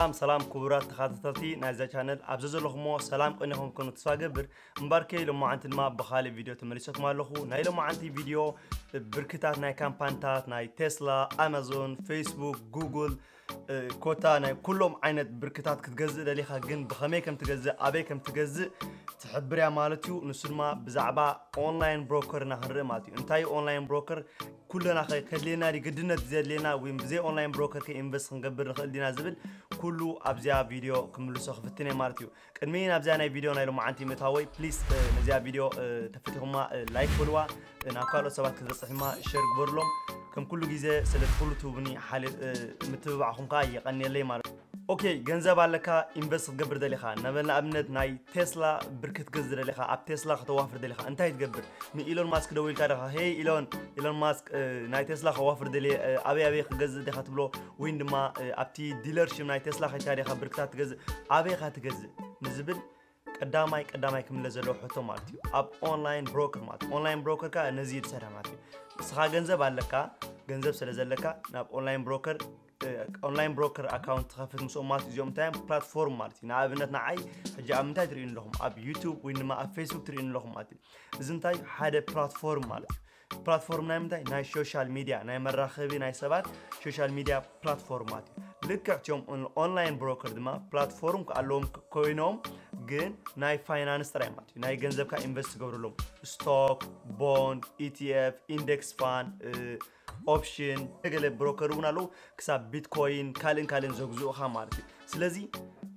ሰላም ሰላም ክቡራት ተኸታተልቲ ናይዛ ቻነል ኣብ ዘዘለኹሞ ሰላም ቅንዕ ክንከኑ ተስፋ ገብር እምበርከይ ሎማዓንቲ ድማ ብኻልእ ቪድዮ ተመሊሰኩም ኣለኹ ናይ ሎማዓንቲ ቪድዮ ብርክታት ናይ ካምፓኒታት ናይ ቴስላ ኣማዞን ፌስቡክ ጉግል ኮታ ናይ ኩሎም ዓይነት ብርክታት ክትገዝእ ደሊኻ ግን ብኸመይ ከም ትገዝእ ኣበይ ከም ትገዝእ ትሕብርያ ማለት እዩ ንሱ ድማ ብዛዕባ ኦንላይን ብሮከርና ክንርኢ ማለት እዩ እንታይ ኦንላይን ብሮከር ኩልና ከ ከድልየና ድዩ ግድነት ዘድልየና ዊን ብዘይ ኦንላይን ብሮከር ከ ኢንቨስት ክንገብር ንኽእል ዲና ዝብል ኩሉ ኣብዚኣ ቪድዮ ክምልሶ ክፍትን እየ ማለት እዩ ቅድሚ ናብዚኣ ናይ ቪድዮ ናይ ሎማዓንቲ ምእታወይ ፕሊስ ነዚኣ ቪድዮ ተፈቲኹማ ላይክ በልዋ ናብ ካልኦት ሰባት ክትበፅሕ ድማ ሸር ግበርሎም ከም ኩሉ ግዜ ስለቲ ኩሉ ትህቡኒ ምትብባዕኹም ከዓ የቐንየለይ ማለት እዩ ኦኬ ገንዘብ ኣለካ ኢንቨስት ክትገብር ደሊኻ ነበል ንኣብነት ናይ ቴስላ ብር ክትገዝ ደሊኻ ኣብ ቴስላ ከተዋፍር ደሊኻ እንታይ ትገብር ንኢሎን ማስክ ደው ኢልካ ደኻ ሄይ ኢሎን ኢሎን ማስክ ናይ ቴስላ ከዋፍር ደልየ ኣበይ ኣበይ ክገዝእ ዲኻ ትብሎ ወይን ድማ ኣብቲ ዲለርሽፕ ናይ ቴስላ ከይካ ዲኻ ብርክታት ትገዝእ ኣበይኻ ትገዝእ ንዝብል ቀዳማይ ቀዳማይ ክምለስ ዘለዎ ሕቶ ማለት እዩ ኣብ ኦንላይን ብሮከር ማለት እዩ ኦንላይን ብሮከር ከዓ ነዚ ትሰርሕ ማለት እዩ ንስኻ ገንዘብ ኣለካ ገንዘብ ስለ ዘለካ ናብ ኦንላይን ብሮከር ኦንላይን ብሮከር ኣካውንት ትኸፍት ምስኦም ማለት እዚኦም እንታይ እዮም ፕላትፎርም ማለት እዩ ንኣብነት ንዓይ ሕጂ ኣብ ምንታይ ትርእዩ ኣለኹም ኣብ ዩቱብ ወይ ድማ ኣብ ፌስቡክ ትርእዩ ኣለኹም ማለት እዩ እዚ እንታይ ሓደ ፕላትፎርም ማለት እዩ ፕላትፎርም ናይ ምንታይ ናይ ሶሻል ሚድያ ናይ መራኸቢ ናይ ሰባት ሶሻል ሚድያ ፕላትፎርማት እዩ ልክዕ ቲኦም ኦንላይን ብሮከር ድማ ፕላትፎርም ኣለዎም ኮይኖም ግን ናይ ፋይናንስ ጥራይ ማለት እዩ ናይ ገንዘብካ ኢንቨስት ትገብርሎም ስቶክ ቦንድ ኢቲኤፍ ኢንደክስ ፋን ኦፕሽን ገለ ብሮከር እውን ኣለዉ ክሳብ ቢትኮይን ካልእን ካልእን ዘግዝኡኻ ማለት እዩ ስለዚ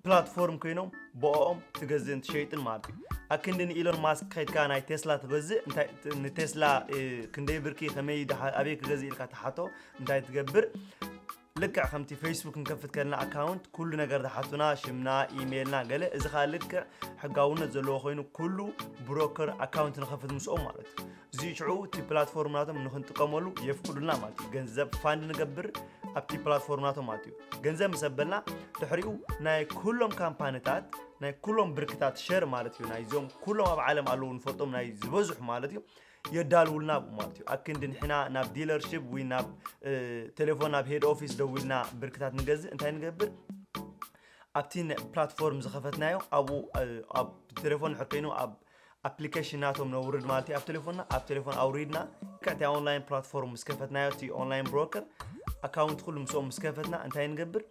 ፕላትፎርም ኮይኖም ብኦኦም ትገዝእን ትሸይጥን ማለት እዩ ኣክንዲ ንኢሎን ማስክ ከድካ ናይ ቴስላ ትገዝእ እንታይ- ንቴስላ እ፣ ክንደይ ብርኪ ከመይ ድሓ- ኣበይ ክገዝእ ኢልካ ትሓቶ እንታይ ትገብር ልክዕ ከምቲ ፌስቡክ ንከፍት ከለና ኣካውንት ኩሉ ነገር ዝሓቱና ሽምና ኢሜይልና ገለ እዚ ከዓ ልክዕ ሕጋውነት ዘለዎ ኮይኑ ኩሉ ብሮከር ኣካውንት ንከፍት ምስኦም ማለት እዩ እዚ ሽዑ እቲ ፕላትፎርም ናቶም ንክንጥቀመሉ የፍቅዱልና ማለት እዩ ገንዘብ ፋንድ ንገብር ኣብቲ ፕላትፎርም ናቶም ማለት እዩ ገንዘብ ምስ ኣበልና ድሕሪኡ ናይ ኩሎም ካምፓኒታት ናይ ኩሎም ብርክታት ሸር ማለት እዩ ናይዞም ኩሎም ኣብ ዓለም ኣለዉ ንፈልጦም ናይ ዝበዝሑ ማለት እዩ የዳልውልና ብኡ ማለት እዩ ኣክንዲ ንሕና ናብ ዲለርሽፕ ወይ ናብ ቴሌፎን ናብ ሄድ ኦፊስ ደዊልና ብርክታት ንገዝእ እንታይ ንገብር ኣብቲ ፕላትፎርም ዝኸፈትናዮ ኣብኡ ኣብ ቴሌፎን ሕር ኮይኑ ኣብ ኣፕሊከሽን ናቶም ነውርድ ማለት እዩ ኣብ ቴሌፎንና ኣብ ቴሌፎን ኣውሪድና ቀጥታ ኦንላይን ፕላትፎርም ምስ ከፈትናዮ እቲ ኦንላይን ብሮከር ኣካውንት ኩሉ ምስኦም ምስ ከፈትና እንታይ ንገብር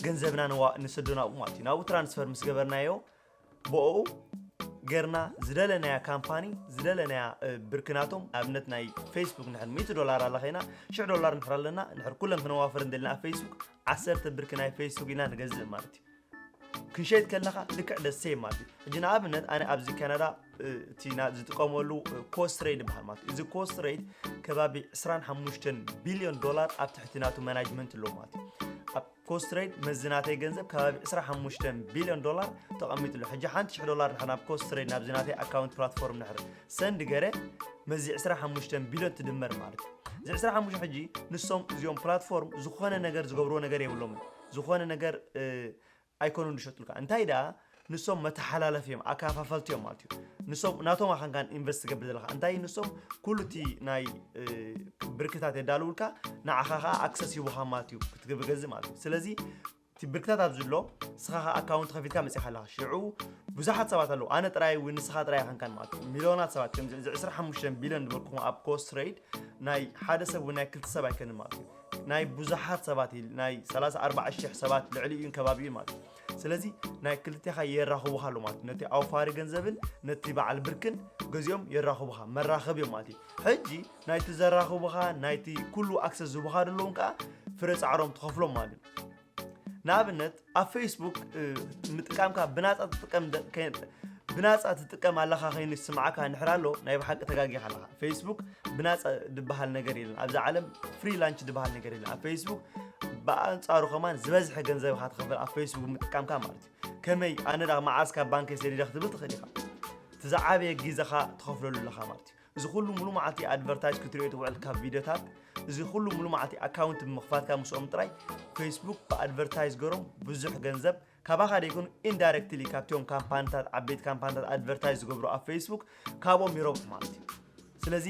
ገንዘብና ንስዶ ናብኡ ማለት እዩ ናብኡ ትራንስፈር ምስ ገበርናዮ ብኡ ገርና ዝደለናያ ካምፓኒ ዝደለናያ ብርኪ ናቶም ኣብነት ናይ ፌስቡክ ንሕር 100 ዶላር ኣላ ኸይና 10 ዶላር ንሕር ኣለና ንሕር ኩለን ክነዋፍር እንደልና ኣብ ፌስቡክ ዓሰርተ ብርኪ ናይ ፌስቡክ ኢና ንገዝእ ማለት እዩ ክንሸይጥ ከለኻ ልክዕ the same ማለት እዩ ሕጂ ንኣብነት ኣነ ኣብዚ ካናዳ እ፣ እቲ ና- ዝጥቀመሉ ኮስት ሬት ይበሃል ማለት እዩ እዚ ኮስት ሬት ከባቢ 25 ቢልዮን ዶላር ኣብ ትሕቲ ናቱ ማናጅመንት ኣለዎ ማለት እዩ ኣብ ኮስት ሬት መዝናተይ ገንዘብ ከባቢ 25 ቢልዮን ዶላር ተቐሚጡ ኣሎ ሕጂ ሓንቲ ሽሕ ዶላር ድሕር ናብ ኮስት ሬት ናብ ዝናተይ ኣካውንት ፕላትፎርም ድሕር ሰንድ ገረ መዚ 25 ቢልዮን ትድመር ማለት እዩ እዚ 25 ሕጂ ንሶም እዚኦም ፕላትፎርም ዝኾነ ነገር ዝገብርዎ ነገር የብሎምን ዝኾነ ነገር ኣይኮኑን ዝሸጡልካ እንታይ ደኣ ንሶም መተሓላለፍ እዮም ኣከፋፈልቲ እዮም ማለት እዩ ንሶም ናቶም ኣኻንካን ኢንቨስት ትገብር ዘለካ እንታይ ንሶም ኩሉ እቲ ናይ ብርክታት የዳልውልካ ንዓኻ ከዓ ኣክሰስ ይቡኻ ማለት እዩ ክትገብገዝ ማለት እዩ ስለዚ እቲ ብርክታት ኣብ ዝሎ ንስኻ ከዓ ኣካውንት ከፊትካ መፂኻ ኣለኻ ሽዑ ብዙሓት ሰባት ኣለዉ ኣነ ጥራይ ወይ ንስኻ ጥራይ ኣኻንካን ማለት እዩ ሚሊዮናት ሰባት ከምዚ እዚ 25 ቢልዮን ዝበልኩኹም ኣብ ኮስትረይድ ናይ ሓደ ሰብ ወይ ናይ ክልተ ሰብ ኣይከንን ማለት እዩ ናይ ብዙሓት ሰባት ኢዩ ናይ ሰላሳ ኣርባዓ ሽሕ ሰባት ልዕሊኡን ከባቢኡን ማለት እዩ ስለዚ ናይ ክልቴኻ የራኽቡኻ ኣሎ ማለት እዩ ነቲ ኣውፋሪ ገንዘብን ነቲ በዓል ብርክን ገዚኦም የራኽቡኻ መራኸብ እዮም ማለት እዩ ሕጂ ናይቲ ዘራኽቡኻ ናይቲ ኩሉ ኣክሰስ ዝቡኻ ደለውን ከዓ ፍረ ፃዕሮም ትኸፍሎም ማለት እዩ ንኣብነት ኣብ ፌስቡክ ምጥቃምካ ብናፃ ትጥቀም ብናፃ ትጥቀም ኣለኻ ከይኑ ይስምዓካ ንሕር ኣሎ ናይ ብሓቂ ተጋጊኻ ኣለኻ ፌስቡክ ብናፃ ዝበሃል ነገር የለን ኣብዚ ዓለም ፍሪ ላንች ዝበሃል ነገር የለን ኣብ ፌስቡክ ብኣንፃሩ ከማን ዝበዝሐ ገንዘብ ኢኻ ትኸፍል ኣብ ፌስቡክ ምጥቃምካ ማለት እዩ ከመይ ኣነ ዳ መዓዝ ካብ ባንከይ ሰዲደ ክትብል ትኽእል ኢኻ እቲ ዝዓበየ ግዜኻ ትኸፍለሉ ኣለኻ ማለት እዩ እዚ ኩሉ ሙሉ መዓልቲ ኣድቨርታይዝ ክትሪኦ ትውዕል ካብ ቪድዮታት እዚ ኩሉ ሙሉ መዓልቲ ኣካውንት ብምኽፋትካ ምስኦም ጥራይ ፌስቡክ ብኣድቨርታይዝ ገሮም ብዙሕ ገንዘብ ካባኻ ደይኮኑ ኢንዳይሬክትሊ ካብቲኦም ካምፓኒታት ዓበይቲ ካምፓኒታት ኣድቨርታይዝ ዝገብሩ ኣብ ፌስቡክ ካብኦም ይረብሑ ማለት እዩ ስለዚ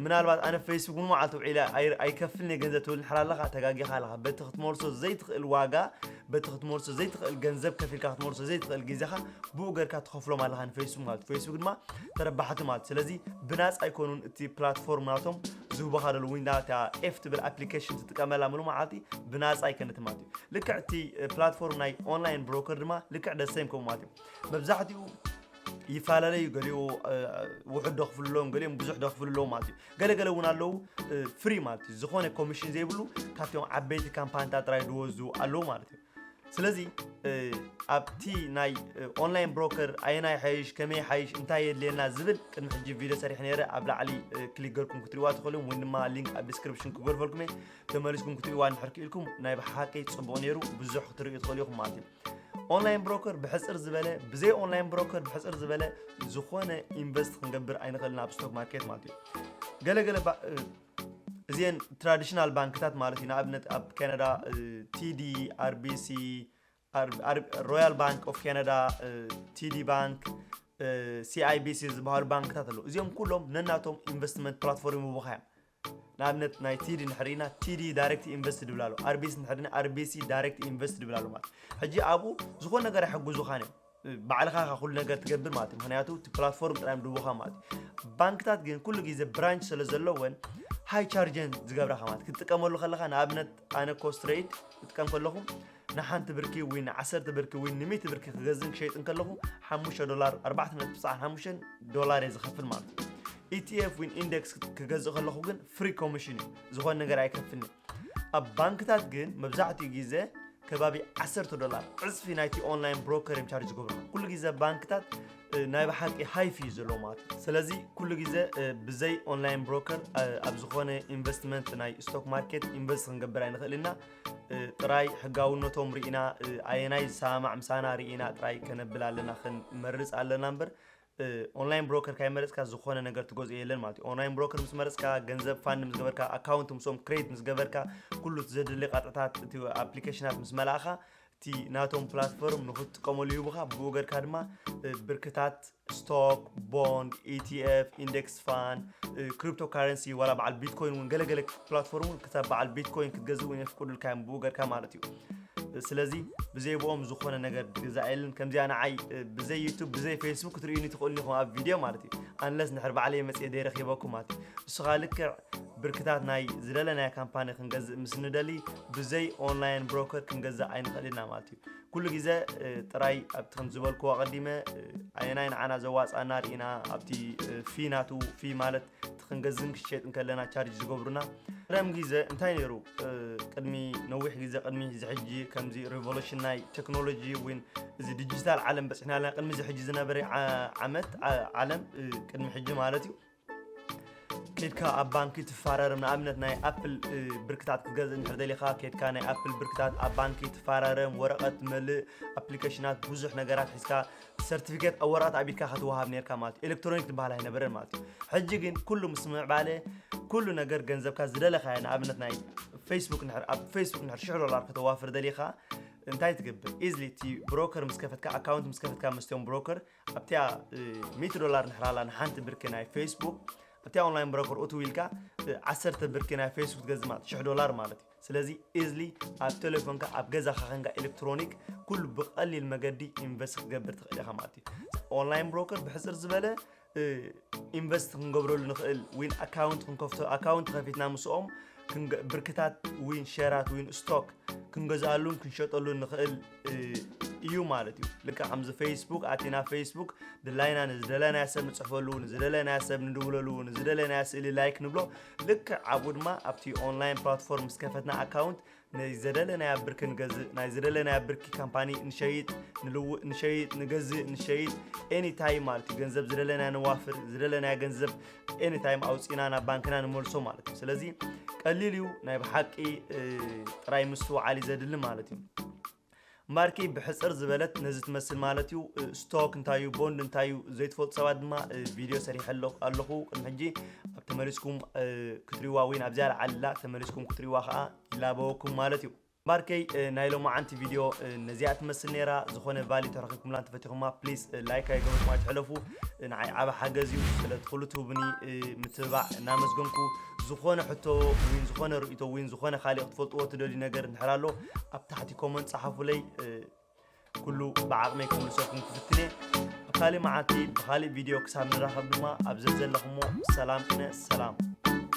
ምናልባት ኣነ ፌስቡክ ን መዓልቲ ውዒለ ኣይከፍልን ገንዘብ ትብል ንሕር ኣለኻ ተጋጊኻ ኣለኻ በቲ ክትመልሶ ዘይትኽእል ዋጋ በቲ ክትመልሶ ዘይትኽእል ገንዘብ ከፊልካ ክትመልሶ ዘይትኽእል ግዜኻ ብኡ ገርካ ትኸፍሎም ኣለኻ ንፌስቡክ ማለት ፌስቡክ ድማ ተረባሕቲ ማለት ስለዚ ብናፃ ኣይኮኑን እቲ ፕላትፎርም ናቶም ዝህቡኻ ደሉ ወይ ናታ ኤፍ ትብል ኣፕሊኬሽን ትጥቀመላ ምሉ መዓልቲ ብናፃ ኣይከነት ማለት እዩ ልክዕ እቲ ፕላትፎርም ናይ ኦንላይን ብሮከር ድማ ልክዕ ደሰም ከምኡ ማለት እዩ መብዛሕትኡ ይፈላለዩ ገሊኡ ውሑድ ደኽፍሉ ኣለዎም ገሊኦም ብዙሕ ደኽፍሉ ኣለዎም ማለት እዩ ገለ ገለ እውን ኣለዉ ፍሪ ማለት እዩ ዝኾነ ኮሚሽን ዘይብሉ ካብቶም ዓበይቲ ካምፓኒታት ጥራይ ዝወስዱ ኣለዉ ማለት እዩ ስለዚ ኣብቲ ናይ ኦንላይን ብሮከር ኣየናይ ሓይሽ ከመይ ሓይሽ እንታይ የድልየና ዝብል ቅድሚ ሕጂ ቪድዮ ሰሪሕ ነይረ ኣብ ላዕሊ ክሊክ ገርኩም ክትሪዋ ትኽእሉ ወይ ድማ ሊንክ ኣብ ዲስክሪፕሽን ክገርፈልኩም እየ ተመሊስኩም ክትሪዋ እንድሕር ክኢልኩም ናይ ብሓቂ ፅቡቕ ነይሩ ብዙሕ ክትርእዩ ትኽእሉ ኢኹም ማለት እዩ ኦንላይን ብሮከር ብሕፅር ዝበለ ብዘይ ኦንላይን ብሮከር ብሕፅር ዝበለ ዝኾነ ኢንቨስት ክንገብር ኣይንኽእልን ኣብ ስቶክ ማርኬት ማለት እዩ ገለገለ እዚን ትራዲሽናል ባንክታት ማለት እዩ ንኣብነት ኣብ ካናዳ ቲዲ ኣርቢሲ ሮያል ባንክ ኦፍ ካናዳ ቲዲ ባንክ ሲኣይቢሲ ዝበሃሉ ባንክታት ኣለዉ እዚኦም ኩሎም ነናቶም ኢንቨስትመንት ፕላትፎርም ይውሃዮም ንኣብነት ናይ ቲዲ ንሕርኢና ቲዲ ዳይሬክት ኢንቨስት ድብል ኣሎ ኣርቢሲ ንሕርኢና ኣርቢሲ ዳይሬክት ኢንቨስት ድብል ኣሎ ማለት ሕጂ ኣብኡ ዝኾነ ነገር ኣይሕግዙኻን እዮም ባዕልኻ ካ ኩሉ ነገር ትገብር ማለት እዩ ምክንያቱ እቲ ፕላትፎርም ጥራይ ድቡኻ ማለት እዩ ባንክታት ግን ኩሉ ግዜ ብራንች ስለ ዘለወን ሃይ ቻርጀን ዝገብራኻ ማለት ክትጥቀመሉ ከለኻ ንኣብነት ኣነ ኮስትረይድ ክጥቀም ከለኹ ንሓንቲ ብርኪ ወይ ንዓሰርተ ብርኪ ወይ ንሚእቲ ብርኪ ክገዝእን ክሸይጥን ከለኹ ሓሙሽተ ዶላር ኣርባዕተ ነጥቢ ትስዓን ሓሙሽተን ዶላር እየ ዝኸፍል ማለት እዩ ኢቲኤፍ ወይ ኢንደክስ ክገዝእ ከለኹ ግን ፍሪ ኮሚሽን እዩ ዝኾነ ነገር ኣይከፍልኒ ኣብ ባንክታት ግን መብዛሕትኡ ግዜ ከባቢ 10 ዶላር ዕፅፊ ናይቲ ኦንላይን ብሮከር እዮም ቻርጅ ዝገብሩ ኩሉ ግዜ ባንክታት ናይ ብሓቂ ሃይፍ እዩ ዘለዎ ማለት እዩ ስለዚ ኩሉ ግዜ ብዘይ ኦንላይን ብሮከር ኣብ ዝኾነ ኢንቨስትመንት ናይ ስቶክ ማርኬት ኢንቨስት ክንገብር ኣይንኽእል ኢና ጥራይ ሕጋውነቶም ርኢና ኣየናይ ዝሰማማዕ ምሳና ርኢና ጥራይ ከነብል ኣለና ክንመርፅ ኣለና እምበር ኦንላይን ብሮከር ካይመረፅካ ዝኾነ ነገር ትገዝኦ የለን ማለት እዩ ኦንላይን ብሮከር ምስ መረፅካ ገንዘብ ፋንድ ምስ ገበርካ ኣካውንት ምስኦም ክሬት ምስ ገበርካ ኩሉ እቲ ዘድሊ ቃጥዕታት እቲ ኣፕሊኬሽናት ምስ መላእኻ እቲ ናቶም ፕላትፎርም ንክትጥቀመሉ ይህቡኻ ብኡ ገርካ ድማ ብርክታት ስቶክ ቦንድ ኢቲኤፍ ኢንደክስ ፋን ክሪፕቶ ካረንሲ ዋላ በዓል ቢትኮይን እውን ገለገለ ፕላትፎርም እውን ክሳብ በዓል ቢትኮይን ክትገዝእ እውን የፍቅዱልካ እዮም ብኡ ገርካ ማለት እዩ ስለዚ ብዘይብኦም ዝኾነ ነገር ግዛእ የለን ከምዚኣ ንዓይ ብዘይ ዩቱብ ብዘይ ፌስቡክ ክትርእዩኒ ትኽእሉ ኢኹም ኣብ ቪድዮ ማለት እዩ ኣንለስ ንሕር ባዕለይ መፅኤ ዘይረኪበኩም ማለት እዩ ንስኻ ልክዕ ብርክታት ናይ ዝደለናዮ ካምፓኒ ክንገዝእ ምስ ንደሊ ብዘይ ኦንላይን ብሮከር ክንገዛእ ኣይንኽእል ኢና ማለት እዩ ኩሉ ግዘ ጥራይ ኣብቲ ከም ዝበልኩ ኣቐዲመ ኣየናይ ንዓና ዘዋፃና ርኢና ኣብቲ ፊ ናቱ ፊ ማለት እቲ ክንገዝን ክሸጥ ከለና ቻርጅ ዝገብሩና ረም ግዘ እንታይ ነይሩ ቅድሚ ነዊሕ ግዘ ቅድሚ እዚ ሕጂ ከምዚ ሬቮሉሽን ናይ ቴክኖሎጂ ወይ እዚ ዲጂታል ዓለም በፅሕና ኣለና ቅድሚ እዚ ሕጂ ዝነበረ ዓመት ዓለም ቅድሚ ሕጂ ማለት እዩ ኬድካ ኣብ ባንኪ ትፋረርም ንኣብነት ናይ ኣፕል ብርክታት ክትገዝእ እንድሕር ደሊኻ ኬድካ ናይ ኣፕል ብርክታት ኣብ ባንኪ ትፋረርም ወረቐት ትመልእ ኣፕሊኬሽናት ብዙሕ ነገራት ሒዝካ ሰርቲፊኬት ኣብ ወረቐት ኣቢልካ ከትወሃብ ነርካ ማለት እዩ ኤሌክትሮኒክ ትበሃል ኣይነበረን ማለት እዩ ሕጂ ግን ኩሉ ምስ ምዕባለ ኩሉ ነገር ገንዘብካ ዝደለኻዮ ንኣብነት ናይ ፌስቡክ ንድሕር ኣብ ፌስቡክ ንድሕር ሽሕ ዶላር ከተዋፍር ደሊኻ እንታይ ትገብር ኢዝሊ እቲ ብሮከር ምስ ከፈትካ ኣካውንት ምስ ከፈትካ መስትዮም ብሮከር ኣብቲያ ሚእቲ ዶላር ንሕራላ ንሓንቲ ብርኪ ናይ ፌስቡክ ኣብቲያ ኦንላይን ብሮከር ኡቱ ኢልካ ዓሰርተ ብርኪ ናይ ፌስቡክ ትገዝእ ማለት ሽሕ ዶላር ማለት እዩ ስለዚ ኢዝሊ ኣብ ቴሌፎንካ ኣብ ገዛኻ ከንካ ኤሌክትሮኒክ ኩሉ ብቐሊል መገዲ ኢንቨስት ክትገብር ትኽእል ኢኻ ማለት እዩ ኦንላይን ብሮከር ብሕፅር ዝበለ ኢንቨስት ክንገብረሉ ንኽእል ዊን ኣካውንት ክንከፍቶ ኣካውንት ከፊትና ምስኦም ብርክታት ዊን ሸራት ዊን ስቶክ ክንገዝኣሉን ክንሸጠሉን ንኽእል እዩ ማለት እዩ ልካ ከምዚ ፌስቡክ ኣቲና ፌስቡክ ድላይና ንዝደለናያ ሰብ ንፅሕፈሉ ንዝደለናያ ሰብ ንድውለሉ ንዝደለናያ ስእሊ ላይክ ንብሎ ልክዕ ኣብኡ ድማ ኣብቲ ኦንላይን ፕላትፎርም ምስ ከፈትና ኣካውንት ናይ ዘደለናያ ብርኪ ንገዝእ ናይ ዝደለናያ ብርኪ ካምፓኒ ንሸይጥ ንልውእ ንሸይጥ ንገዝእ ንሸይጥ ኤኒታይም ማለት እዩ ገንዘብ ዝደለናያ ነዋፍር ዝደለናያ ገንዘብ ኤኒታይም ኣውፂና ናብ ባንክና ንመልሶ ማለት እዩ ስለዚ ቀሊል እዩ ናይ ብሓቂ ጥራይ ምስትውዓል እዩ ዘድሊ ማለት እዩ ማርኪ ብሕጽር ዝበለት ነዚ ትመስል ማለት እዩ ስቶክ እንታይ እዩ ቦንድ እንታይ እዩ ዘይትፈልጡ ሰባት ድማ ቪድዮ ሰሪሐ ኣለኹ ቅድሚ ሕጂ ኣብ ተመሊስኩም ክትሪዋ ወይ ናብ ዝያዳ ዓልላ ተመሊስኩም ክትሪዋ ከዓ ይላበወኩም ማለት እዩ ማርከይ ናይ ሎማዓንቲ ቪድዮ ነዚኣ ትመስል ነይራ ዝኾነ ቫሊ ተረኺብኩምላ እንተፈቲኹማ ፕሊስ ላይክ ኣይገበርኩም ኣይትሕለፉ ንዓይ ዓበ ሓገዝ እዩ ስለቲ ኩሉ ትህቡኒ ምትብባዕ እናመስገንኩ ዝኾነ ሕቶ ወይ ዝኾነ ርእቶ ወይ ዝኾነ ካልእ ክትፈልጥዎ ትደልዩ ነገር እንድሕር ኣሎ ኣብ ታሕቲ ኮመንት ጸሓፉለይ ኩሉ ብዓቕመይ ክምልሰኩም ክፍትን እየ ኣብ ካልእ መዓልቲ ብካልእ ቪድዮ ክሳብ ንራኸብ ድማ ኣብ ዘዘለኹሞ ሰላም ቅነ ሰላም